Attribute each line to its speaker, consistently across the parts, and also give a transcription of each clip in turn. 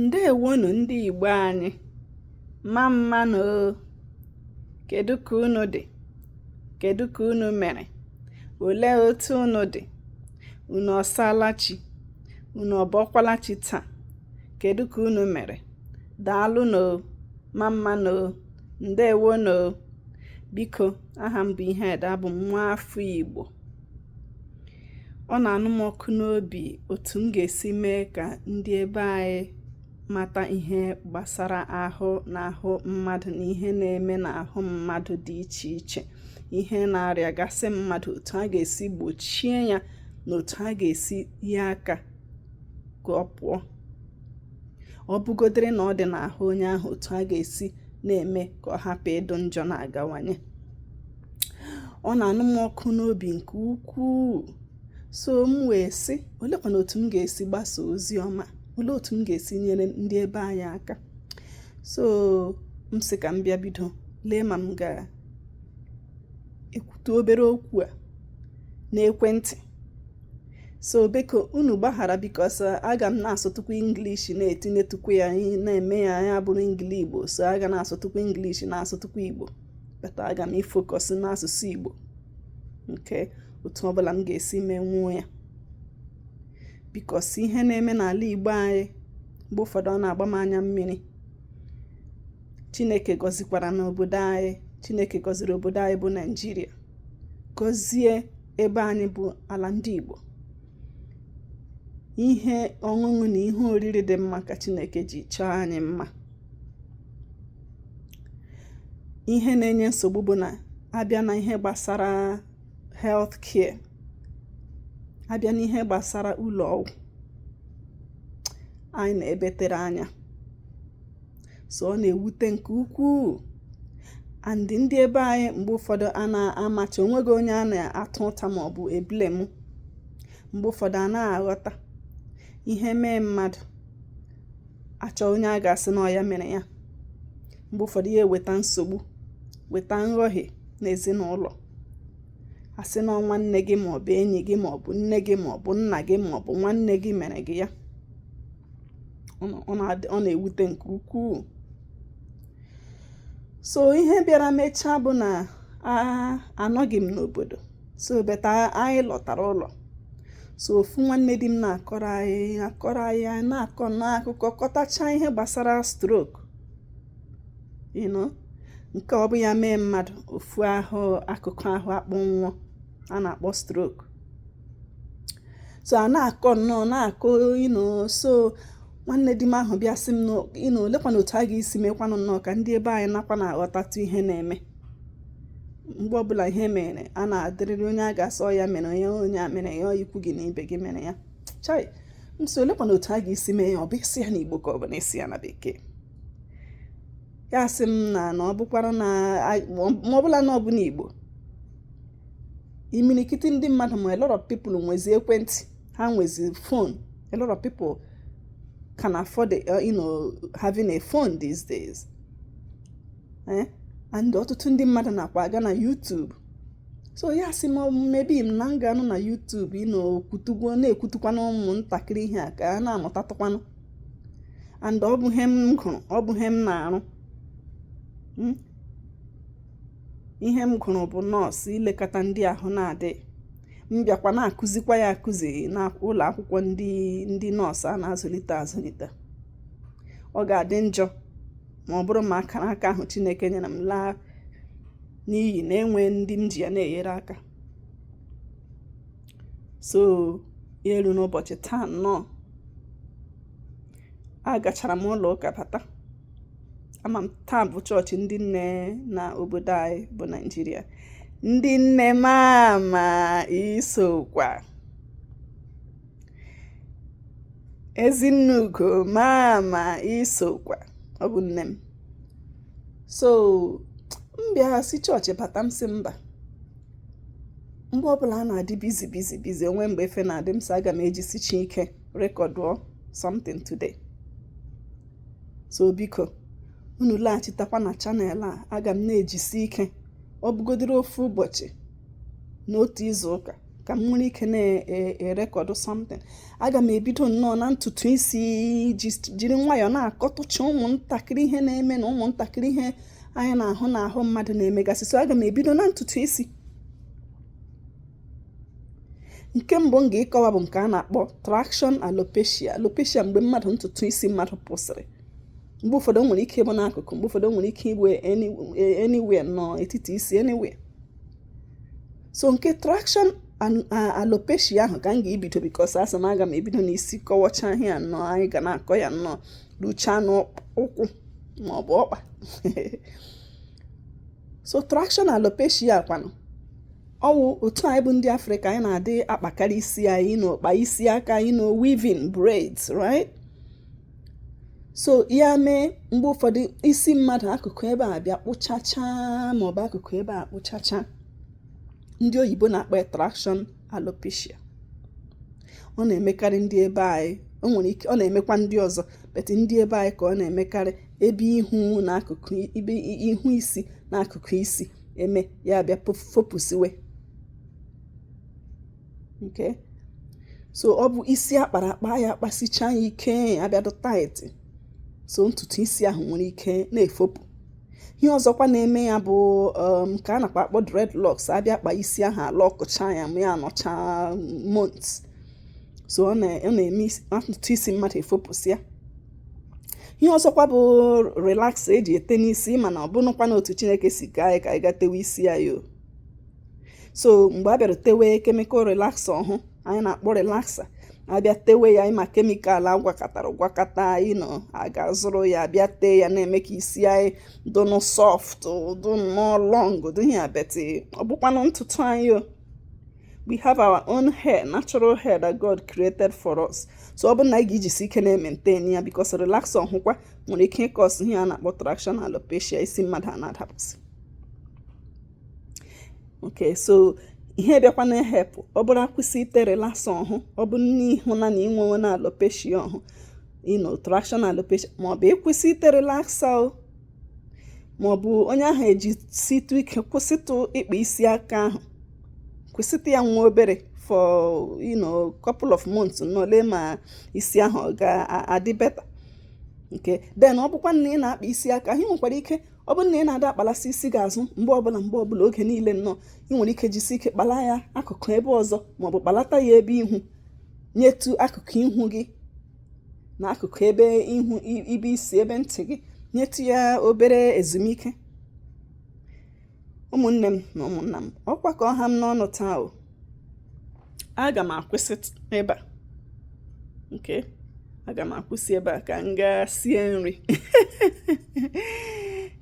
Speaker 1: ǹdeèwonù ndị ìgbo anyị mma mma nụ o kèdu kà unu dị̀ kèdu kà unu mèrè òlee otu unu dị̀ unu ọ̀sala chi unu ọ̀bọkwala chi taa kèdu kà unu mèrè dàalụ nụ o mma mma nụ o ǹdeèwonù o biko aha m bụ ihe ede abụ m nwa afọ igbo ọ na-anụ m ọkụ n'obi otu m ga-esi mee ka ndị ebe anyị mata ihe gbasara ahụ na ahụ mmadụ na ihe na-eme n'ahụ mmadụ dị iche iche ihe na-arịagasị mmadụ otu a ga-esi gbochie ya na otu a ga-esi hie aka ka ọ pụọ ọ bụgodịrị na ọ dị n'ahụ onye ahụ otu a ga-esi na-eme ka ọ hapụ ịdụ njọ na-agawanye ọ na-anụ m ọkụ n'obi nke ukwuu so m wee sị olekwanụ otu m ga-esi gbasa ozi ọma olee otu m ga-esi nyere ndị ebe anyị aka so m sị ka m bịa bido lee ma m ga-ekwutụ obere okwu a n'ekwentị so biko unu gbaghara because aga m na-asụtụkwu English na-etinyetụkwu ya na-eme ya ya bụrụ Engli igbo so a ga na-asụtụkwu English na-asụtụkwu igbo but aga m ifocus n'asụsụ Igbo nke otu ọbụla m ga-esi menwuo ya because ihe na-eme n'ala Igbo anyị mgbe ụfọdụ ọ na-agba m anya mmiri Chineke gọzikwaranụ obodo anyị Chineke gọziri obodo anyị bụ Naịjirịa gọzie ebe anyị bụ ala ndị Igbo ihe ọṅụṅụ na ihe oriri dị mma ka Chineke ji chọọ anyị mma ihe na-enye nsogbu bụ na a bịa na ihe gbasara health care a bịa na ihe gbasara ụlọ ọgwụ anyị nọ ebe tere anya so ọ na-ewute nke ukwuu and ndị ebe anyị mgbe ụfọdụ a na-amacha onweghị onye a na-ata ụta ma ọ bụ eblame mgbe ụfọdụ a na-aghọta ihe mee mmadụ a chọọ onye a ga-asị na ọ ya mere ya mgbe ụfọdụ ya eweta nsogbu weta nghọhie n'ezinụlọ a sị na ọ nwanne gị ma ọ bụ enyi gị ma ọ bụ nne gị ma ọ bụ nna gị ma ọ bụ nwanne gị mere gị ya ọ na-ewute nke ukwuu so ihe bịara mechaa bụ na anọghị m n'obodo so beta anyị lọtara ụlọ so ofu nwanne di m na-akọrọ anyị akọrọ anyị anyị na-akọ nnọọ akụkọ kọtacha ihe gbasara stroke you know nke ọ bụ ya mee mmadụ ofu ahụ akụkụ ahụ akpọnwụọ a na-akpọ stroke so a na-akọ nnọọ na-akọ you know so nwanne di m ahụ bịa sị m you know olekwanụ otu a ga-esi mekwanụ nnọọ ka ndị ebe anyị nakwa na-aghọtatụ ihe na-eme mgbe ọbụla ihe mere a na-adịrịrị onye a ga-asị ya mere onye onye a mere ya ikwu gị na ibe gị mere ya chai so olekwanụ otu a ga-esi mee ya ọ bụ ịsụ ya na igbo ka ọ bụ na ịsụ ya na bekee ya sị m na na ọ bụkwara na ma ọ bụla na ọ bụ na igbo imirikiti ndị mmadụ ma a lot of people nwezi ekwentị ha nwezi phone a lot of people can afford uh, you know having a phone these days eh? and ọtụtụ ndị mmadụ nakwa aga na YouTube so ya sị m maybe m na m ga-anọ na YouTube you know kwutugwo na-ekwutukwanụ ụmụntakịrị ihe a ka a na-amụtatụkwanụ and ọ bụ ihe m gụrụ ọ bụ ihe m na-arụ hmm? ihe m gụrụ bụ nọọsụ ilekọta ndị ahụ na-adịghị m bịakwa na-akụzikwa ya akụzi na ụlọ akwụkwọ ndị ndị nọọsụ a na-azụlite azụlite ọ ga-adị njọ ma ọ bụrụ ma akara aka ahụ Chineke nyere m laa n'iyi na-enweghị ndị m ji ya na-enyere aka so ya eruo n'ụbọchị taa nnọọ agachara m ụlọ ụka bata ama m taa bụ chọọchị ndị nne na obodo anyị bụ naijiria ndị nne mama isokwa ezinne ugo mama isokwa ọ bụ nne m so m bịara si chọọchị bata m sị mba mgbe ọbụla a na-adị busy busy busy o nweghị mgbe efe na-adị m sị aga m ejisichi ike rekọdụọ something today so biko unu laghachitakwa na channel a aga m na-ejisi ike ọ bụgodiri ofu ụbọchị n'otu izu ụka ka m nwere ike na-erekọdụ something aga m ebido nnọọ na ntutu isi jiri nwayọọ na-akọtụcha ụmụntakịrị ihe na-eme na ụmụntakịrị ihe anyị na-ahụ n'ahụ mmadụ na-emegasị so aga m ebido na ntutu isi nke mbụ m ga-ịkọwa bụ nke a na-akpọ traction alopecia alopecia mgbe mmadụ ntutu isi mmadụ pụsịrị mgbe ụfọdụ nwere ike ịbụ n'akụkụ mgbe ụfọdụ nwere ike ịbụ anywhere n'etiti isi anywhere so nke traction alopecia ahụ ka m ga-ebido because asị m aga m ebido n'isi kọwacha ihe ya nnọọ anyị ga na-akọ ya nnọọ ruchaa n'ụkwụ maọbụ ọkpa so traction alopecia kwanụ ọwụ otu anyị bụ ndị afrịka anyị na-adị akpakarị isi anyị na-akpa isi aka you know weaving braids right so ya mee mgbe ụfọdụ isi mmadụ akụkụ ebe a bịa kpụchacha maọbụ akụkụ ebe a kpụchacha ndị oyibo na-akpọ ya traction alopecia ọ na-emekarị ndị ebe anyị o nwere ike ọ na-emekwa ndị ọzọ but ndị ebe anyị ka ọ na-emekarị ebe ihu na akụkụ ibe ihu isi na akụkụ isi eme ya bịa fopụsiwe okay so ọ bụ isi akpara akpa ya akpasicha ya ike abịa dụ tight so ntutu isi ahụ nwere ike na-efopụ ihe ọzọkwa na-eme ya bụ um, nke a na-akpa akpọ dreadlocks abịa kpa isi ahụ alọkụcha ya ma ya anọcha months so ọ na-eme ntutu isi mmadụ efopụsịa ihe ọzọkwa bụ relaxer eji ete n'isi mana ọ bụrụkwa na otu chineke si ka anyị ka anyị gaa tewe isi anyị o so mgbe a bịara tewe chemical relaxer ọhụ anyị na-akpọ relaxer abịa tewe ya ịma chemical agwakọtara agwakọta you know a gaa zụrụ ya abịa tee ya na-eme ka isi anyị dụ nnọọ soft dụ nnọọ long dị ya but ọ bụkwanụ ntutu anyị o we have our own hair natural hair that God created for us so ọ bụrụ na anyị ga-ejisi ike na-ementain ya because relaxer ọhụkwa nwere ike ịkọs ihe a na-akpọ traction alopecia isi mmadụ a na-adapụsị okay so ihe bịakwa na-ehelp ọ bụrụ akwụsị ite relaxer ọhụ ọ bụ na ị hụna na i nwewena alopecia ọhụ you know traction alopecia maọbụ ịkwụsị ite relaxer o maọbụ onye ahụ ejisitụ ike kwụsịtụ ịkpa isi aka ahụ kwụsịtụ ya nwa obere for you know couple of months na-ele ma isi ahụ ọ ga-adị better okay then ọ bụkwa na ị na-akpa isi aka ahụ i nwekwara ike ọ bụrụ na ị na-ada akpalasi isi gị azụ mgbe ọbụla mgbe ọbụla oge niile nnọọ ị nwere ike jisi ike kpala ya akụkụ ebe ọzọ maọbụ kpalata ya ebe ihu nyetu akụkụ ihu gị na akụkụ ebe ihu ibe isi ebe ntị gị nyetu ya obere ezumike ụmụnne m na ụmụnna m ọkwa ka ọ ha m n'ọnụ taa o aga m akwụsị ebe a okay aga m akwụsị ebe a ka m gaa sie nri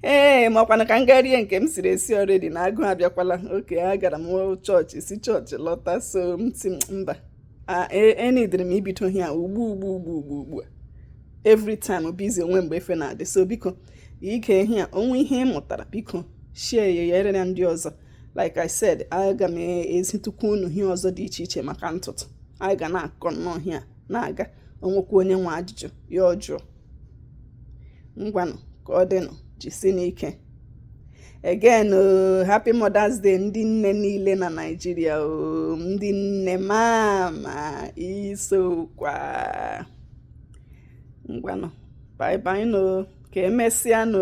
Speaker 1: ee makwanụ ka m gaa rie nke m siri esi already na agụụ abịakwala okay agara m chọọchị si chọọchị lọta so m sị mba enidiri m ibido ihe a ugbu ugbu ugbu ugbu ugbu a every time busy onwe mgbe efe na-adị so biko ị gee ihe a o nwee ihe ị mụtara biko share ya ya erere ndị ọzọ like i said aga m ezitukwu unu ihe ọzọ dị iche iche maka ntụtụ anyị ga na-akọ nnọọ ihe a na-aga o nwekwa onye nwe ajụjụ ya ọ jụọ ngwanụ ka ọ dịnụ jisinụ ike again happy mother's day ndị nne niile na naijiria o ndị nne mama isokwa ngwanụ bye bye nụ ka emesịa nụ